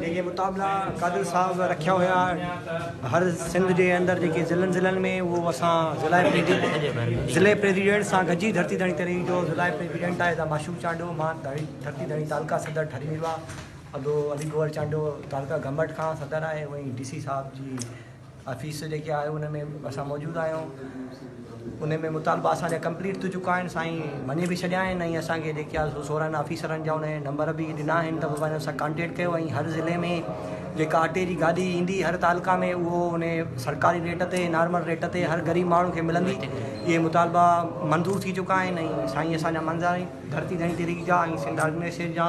جيڪي مطابلا قادر صاحب رکيا هيا هر سنڌ جي اندر جيڪي ضلعن ضلعن ۾ اهو اسان ضلع ضلع پريزيڊنٽ سان گڏجي ڌرتي ڌڻي تري جو ضلع پريزيڊنٽ آهي دا معشوق چانڊو مان ڌرتي ڌڻي تعلقه صدر ٺري ويو آهي ابو علي گوهر چانڊو تعلقه گمبٽ کان صدر آهي وئي ڊي سي صاحب جي آفيس جيڪي آهي ان ۾ اسان موجود آهيون ان ۾ مطالبا اسان جا ڪمپليٽ ٿي چڪا آهن سائين مڃي به ڇڏيا آهن ۽ اسان کي جيڪي آهي سورن آفيسرن جا ان نمبر به ڏنا آهن ته ان سان ڪانٽيڪٽ ڪيو ۽ هر ضلعي ۾ جيڪا اٽي جي گاڏي ايندي هر تعلقا ۾ اهو ان سرڪاري ريٽ تي نارمل ريٽ تي هر غريب ماڻهو کي ملندي اهي مطالبا منظور ٿي چڪا آهن ۽ سائين اسان جا منظر ڌرتي ڌڻي تحريڪ جا ۽ سنڌ آرگنائيزيشن جا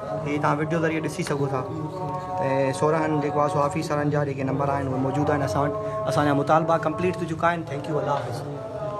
هي توهان وڊيو ذريعي ڏسي سگهو ٿا ته سورهن جيڪو آهي سو آفيسرن جا جيڪي نمبر آهن اهي موجود آهن اسان وٽ اسان جا مطالبا ڪمپليٽ ٿي چڪا آهن ٿينڪ يو الله حافظ